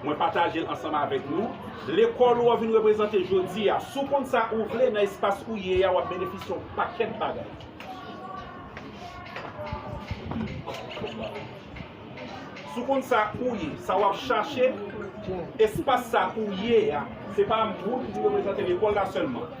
Mwen pataje l ansanm avèk nou. Lekòl ou an vin reprezante jodi a. Si w konn sa ou vle nan espas ou ye a, w ap benefisye yon pakèt bagay. Si w konn sa ou ye, sa w ap chache, espas sa ou ye a, se pa moun ki reprezante lekòl la sèlman.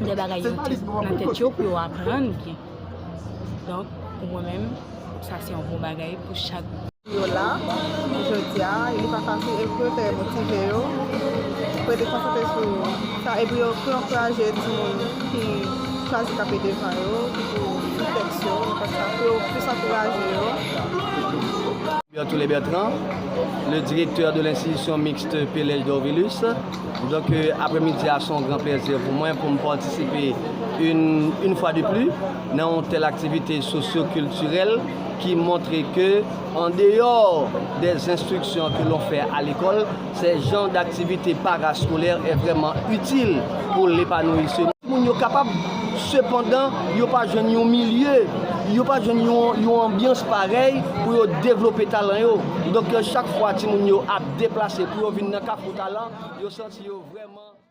de bagay yo te nan tèt yo pou yo aprann byen. Donk, pou mwen menm, sa se yon bon bagay pou chak group. Yo la, jodi a, e li pa fasil, e pou yo te motive yo, pou yo te konsantre sou sa, e pou yo ankouraje timoun ki chwazi tape devan yo, ki pou sou tèks yo, pou yo plis ankouraje yo. Bertholet Bertrand, le directeur de l'institution mixte Pelez Dorvilus. Donk aprè midi a se yon gran plèzi pou mwen pou m patisipe yn fwa de pli nan yon tèl aktivite sosyo kiltirèl ki montre ke an deyò dè enstriksyon ke lon fè a lekòl sè jan daktivite paraskolè è vrèman itil pou lepanouyisem moun yo kapab sepandan yo pa jwenn yon milye yo pa jwenn yon anbyans parèy pou yo devlope talan yo. Kidonk, chak fwa timoun yo ap deplase pou yo vin nan Kafou Talan, yo santi yo vrèman.